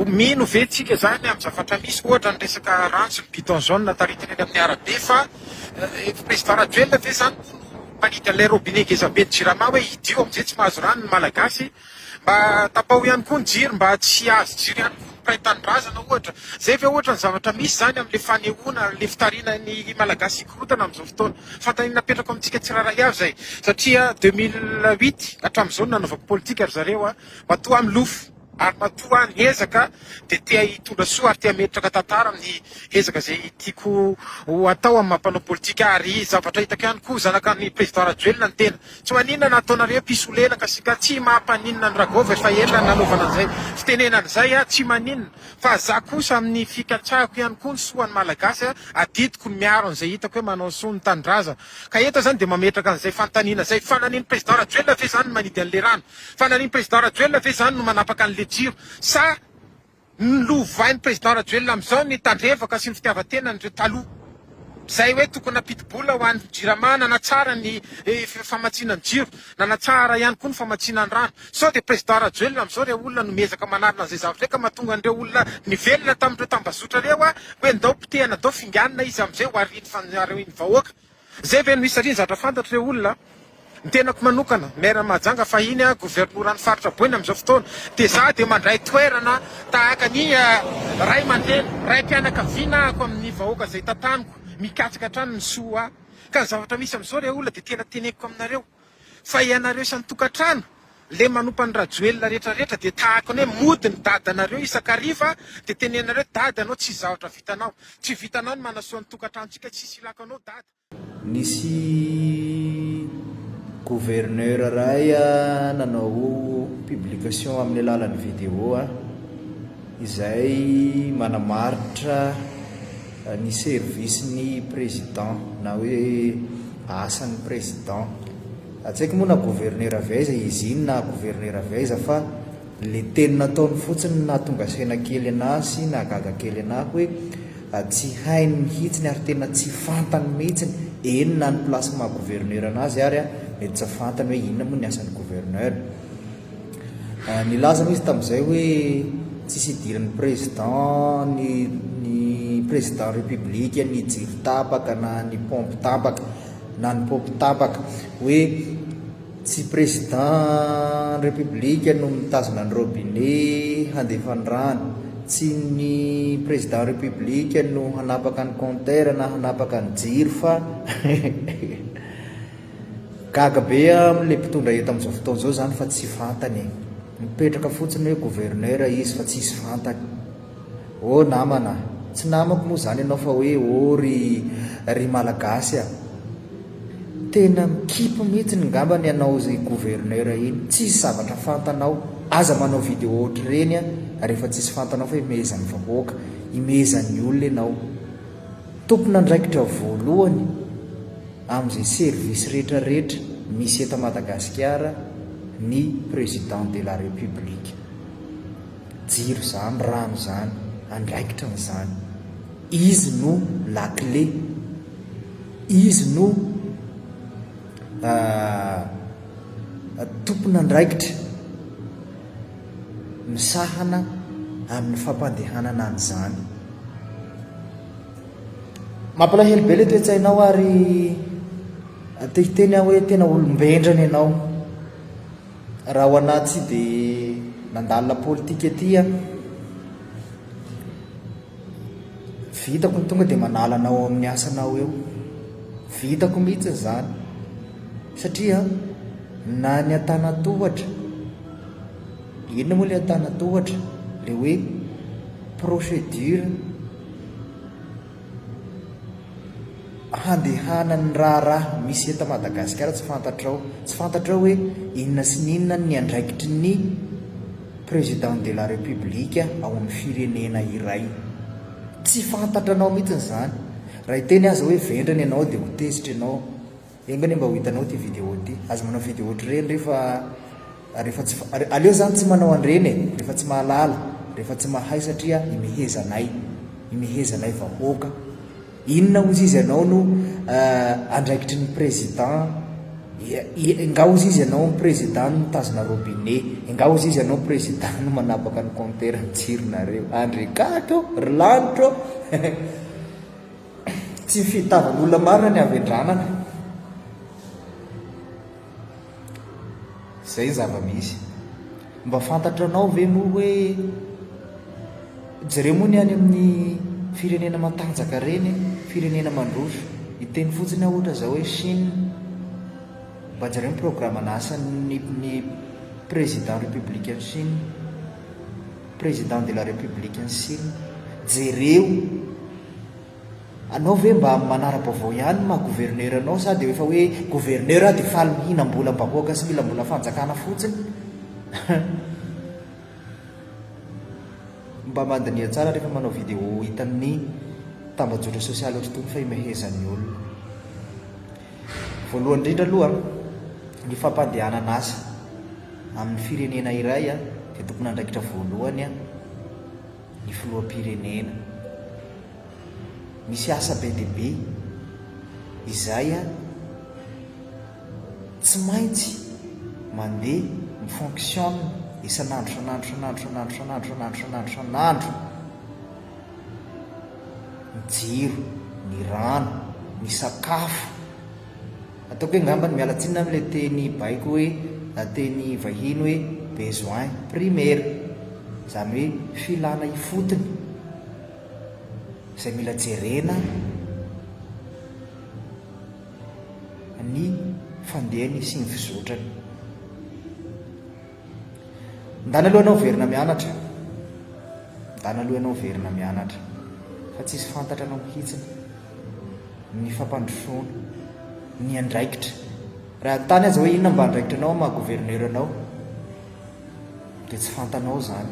Mino ve tsika zany am zavatra misy ohatra ny resaka rantsy ny bidon jaune ataritiny eny aminy arabe fa president rajoelina ve zany moa no mpanity an'ilay robinet ngezaben'ny jirama hoe hidio amzay tsy mahazo rano ny malagasy mba tapaho ihany koa ny jiro mba tsy hihazo jiro ihany koa ny mpiray tanindrazana ohatra zay ve ohatra ny zavatra misy zany amle fanehoana le fitarina ny malagasy hikorotana amzao fotoana fantanina napetrako amitsika tsirairay avy zay satria deux mille huit atramzao ny nanaovako politika ry zareo an Matoa milofo ary matoa miezaka dia te hitondra soa ary te hametraka tantara amin'ny ezaka izay tiako ho atao amin'ny maha mpanao politika ahy ary zavatra hitako ihany koa zanaka an'i Président Rajoelina ny tena. Tsy maninona na ataonareo mpisolo hena ka sika tsy maha mpaninona an'i Ragov efa ela ny nanaovana an'izay fitenenana izay aho tsy maninona fa za kosa amin'ny fikatsahiko ihany koa ny soa an'i Malagasy adidiko ny miaro an'izay hitako hoe manao soa ny tanindrazana ka eto zany dia mametraka an'izay fanontaniana izay, fananin'i Président Rajoelina ve zany ny manidy an'le rano? Fanarin'i Président Rajoelina ve izany no manapaka an'le jiro? Sa nolovain'i Président Rajoelina amin'izao ny tandrevaka sy ny fitiavan-tenan'ireo taloha? Izay hoe tokony nampidi-bola ho an'ny Jirama nanatsara ny famatsiana ny jiro, nanatsara ihany koa ny famatsiana ny rano. Sao dia Président Rajoelina amin'izao ireo olona no miezaka manarina an'izay zavatra izay ka mahatonga an'ireo olona nivelona tamin'ireo tambazotra ireo hoe ndao potehana ndao finganina izy amin'izay ho arian'ny vahoaka? Zay ve no izy satria zatra fantatro le olona a! Ny tenako manokana, Maire Mahajanga fahiny a, Governoran'ny Faritra Boina amin'izao fotoana dia za dia mandray toerana tahaka ny Ray aman-dreny, Raim-pianakaviana ako amin'ny vahoaka izay tantaniko, mikatsaka hatrany ny soa ahy. Ka ny zavatra misy amin'izao le olona dia tena teneniko aminareo. Fa ianareo isan'ny tokantrano le manompa an'i Rajoelina rehetra rehetra dia tahaka ny hoe mody ny dadanareo isan-kariva dia tenenanareo hoe dada anao tsisy zavatra vitanao. Tsy vitanao ny manasoa ny tokantranontsika tsisy ilako anao dada. Nisy gouverneur ray nanao publication amin'ny alalan'ny video izay manamaritra Ny service ny président na hoe asan'ny président. Hatsaiko moa na gouverneur avy aiza izy iny na gouverneur avy aiza fa le teny nataony fotsiny no nahatonga saina kely anà sy nahagaga kely anà hoe tsy hainy mihitsiny ary tena tsy fantany mihitsiny eny na ny place maha gouverneur an'azy ary mety tsy fantany hoe inona moa ny asan'ny gouverneur. Nilaza aloha izy tamin'izay hoe tsisy idiran'ny Président ny ny Président République ny jiro tapaka na ny pompe tapaka na ny pompe tapaka hoe tsy Président République no mitazona ny robinet handefa ny rano tsy ny Président République no hanapaka ny compteur na hanapaka ny jiro fa Gaga be am le mpitondra eto amzao fotoana zao zany fa tsy fantany e! Mipetraka fotsiny hoe gouverneur izy fa tsisy fantany! Oh namana a! Tsy namako moa zany ianao fa hoe oh ry ry malagasy a! Tena mikipy mihitsiny ngambany ianao zy gouverneur iny! Tsisy zavatra fantanao! Aza manao video ohatr'ireny a! Rehefa tsisy fantanao fa imehezan'ny vahoaka, imehezan'ny olona ianao! Tompon'andraikitra voalohany amin'izay service rehetra rehetra misy eto Madagasikara ny Président de la République. Jiro izany, rano izany, andraikitra an'izany. Izy no la clé, izy no tompon'andraikitra. misahana amin'ny fampandehanana an'izany. Mampalahelo be ilay toe-tsainao ary te hiteny aho hoe tena olom-bendrana ianao. Raha ho anà tsy dia nandalina politika ety aho. Vitako ny tonga dia manala anao ao amin'ny asanao eo. Vitako mihitsy izany satria na ny an-tanan-tohatra Inona moa le antanatohatra le hoe procédure handehanan'ny raharaha misy eto Madagasikara tsy fantatrao tsy fantatrao hoe inona sy inona ny andraikitry ny président de la république ao amin'ny firenena iray tsy fantatranao mihitsy izany raha iteny aza hoe vendrana ianao dia ho tezitra ianao Enga anie mba ho hitanao ity vidéo ity. Aza manao vidéo ohatr'ireny rehefa rehefa tsy aleo zany tsy manao an'ireny e, rehefa tsy mahalala, rehefa tsy mahay satria imehezanay, imehezanay vahoaka. Inona hozy izy ianao no andraikitry ny président, enga hozy izy ianao président no mitazona robinet, enga hozy izy ianao président no manapaka ny compteur jironareo. Andry Kato ô, ry lanitra ô. Tsy ny fitadiavan'olona maro any havendranana. Izay ny zava-misy. Mba fantatranao ve moa hoe jereo moa ny any amin'ny firenena matanjaka reny, firenena mandroso. Hiteny fotsiny aho ohatra izao hoe Chine. Mba jereo ny programan'asan'ny ny président républicaine Chine. Président de la République an'i Sina, jereo anao ve mba manara-baovao ihany ny maha gouverneur anao sa dia rehefa hoe gouverneur aho dia faly mihinam-bolam-bahoaka sy mila mbola fanjakana fotsiny? Mba mandiniha tsara rehefa manao vidéo hitan'ny tambajotra sosialy ohatr'itony fa imehezan'ny olona. Voalohany indrindra aloha, ny fampandehanana asa amin'ny firenena iray dia tompon'andraikitra voalohany ny filoham-pirenena. Misy asa be dia be izay tsy maintsy mandeha mifonctionne isan'andro isan'andro isan'andro isan'andro isan'andro isan'andro isan'andro isan'andro. ny jiro, ny rano, ny sakafo. Ataoko hoe angamba miala tsiny na amin'ilay teny baiko hoe na teny vahiny hoe besoin primaire, izany hoe filana ifotony izay mila jerena ny fandehany sy ny fizotrany. Ndana aloha ianao verina mianatra Ndana aloha ianao verina mianatra Fa tsisy fantatra anao mihitsiny Ny fampandrosoana Ny andraikitra Raha hanontany aza hoe inona mba andraikitranao maha gouverneur anao Dia tsy fantanao izany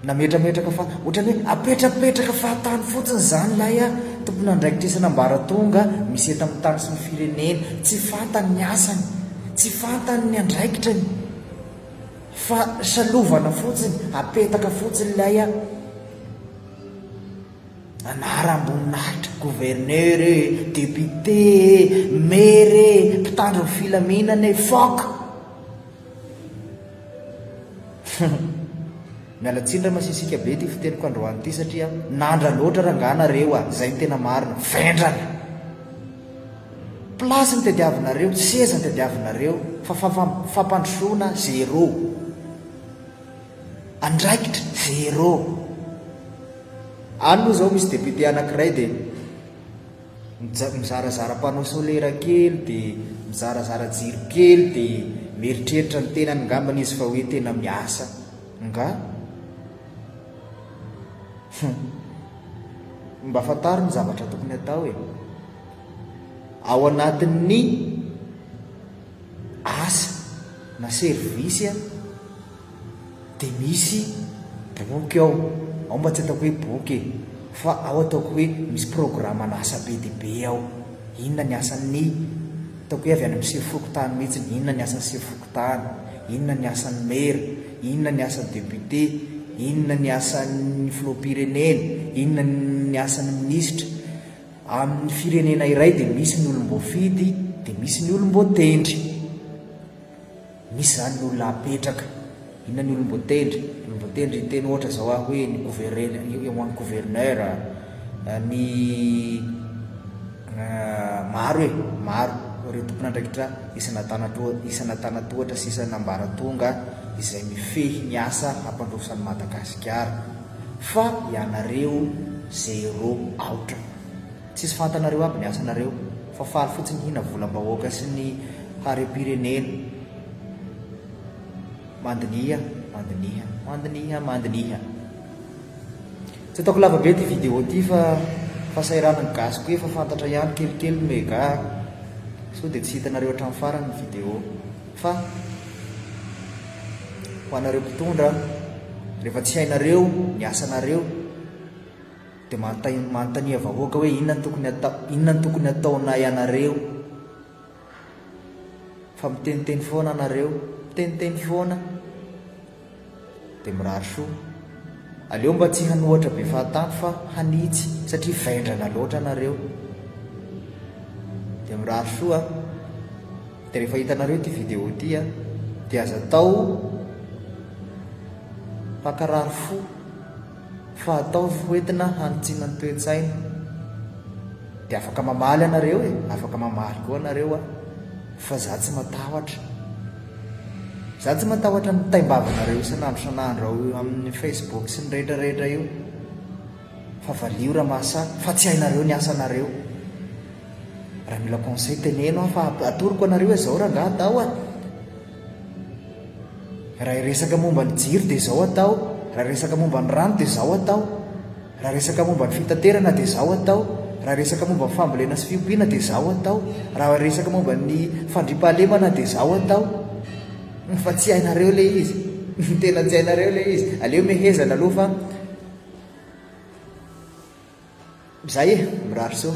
Nametrametraka fa ohatrany hoe apetrapetraka fahatany fotsiny izany lay a! Tompon'andraikitrisana ambaratonga misy eto amin'ny tany sy ny firenena, tsy fantany ny asany, tsy fantany ny andraikitrany fa salovana fotsiny, apetaka fotsiny ilay a! Anaram-boninahitra, gouverneur e, député e, maire e, mpitandro ny filaminana e, fuck! Miala tsiny ra masisika be ity fiteniko androany ity satria nandra loatra rangah nareo a zay no tena marina vendrana place no tadiavinareo seza no tadiavinareo fa fampandrosoana zero andraikitra zero any moa zao misy député anakiray dia Mizarazara panneau solaire kely dia mizarazara jiro kely dia mieritreritra ny tenany ngambany izy fa hoe tena miasa nga? Hum. Mba fantaro ny zavatra tokony atao e. Ao anatin'ny asa na service Dia misy boky ao, ao mba tsy ataoko hoe boky e, fa ao ataoko hoe misy programan'asa be dia be ao. Inona ny asan'ny, ataoko hoe avy any amin'ny sivy fokontany mihitsy, inona ny asan'ny sivy fokontany, inona ny asan'ny maire, inona ny asan'ny député, inona ny asan'ny filoham-pirenena, inona ny asan'ny minisitra. Amin'ny firenena iray dia misy ny olom-boafidy, dia misy ny olom-boatendry. Misy zany ny olona apetraka, inona ny olom-boatendry, olom-boatendry hiteny ohatra zao aho hoe ny gouverneur, eo ho an'ny gouverneur, ny maro e, maro ireo tompon'andraikitra isan'Antanantoa, isan'Antanatohatra sy isan'Ambaratonga izay mifehy ny asa hampandroso an'i Madagasikara, fa ianareo zéro, aotra. Tsisy fantanareo aby ny asanareo fa faly fotsiny hihina volambahoaka sy ny harempirenena. Mandiniha, mandiniha, mandiniha, mandiniha. Tsy ataoko lava be ty vidéo ty fa fahasahiran ny gasy ko efa fantatra ihany kelikely ny mega a. Sao dia tsy hitanareo hatramin'ny farany ny vidéo. Fa ho anareo mpitondra rehefa tsy hainareo ny asanareo, Dia manontania manontania vahoaka hoe inona no tokony atao inona no tokony ataonay anareo fa miteniteny foana anareo miteniteny foana dia mirary soa aleo mba tsy hanohatra be fahatany fa hanitsy satria vendrana loatra anareo dia mirary soa dia rehefa hitanareo ity vidéo ity a dia aza atao hankarary fo fa atao foentina hanitsiana ny toe-tsaina dia afaka mamaly anareo e, afaka mamaly koa anareo a, fa za tsy matahotra, za tsy matahotra ny taimbavanareo isan'andro isan'andro ao amin'ny Facebook sy ny rehetra rehetra io, fa valio raha mahasahy, fa tsy hainareo ny asanareo, raha mila conseil teneno aho fa atoroko anareo izao rangahy Dao a. Raha hiresaka momba ny jiro dia izao atao, raha hiresaka momba ny rano dia izao atao, raha hiresaka momba ny fitaterana dia izao atao, raha hiresaka momba ny fambolena sy fiompiana dia izao atao, raha hiresaka momba ny fandriampahalemana dia izao atao. Fa tsy hainareo ilay izy. Tena tsy hainareo ilay izy. Aleo mehezana aloha fa Zay e, mirary soa.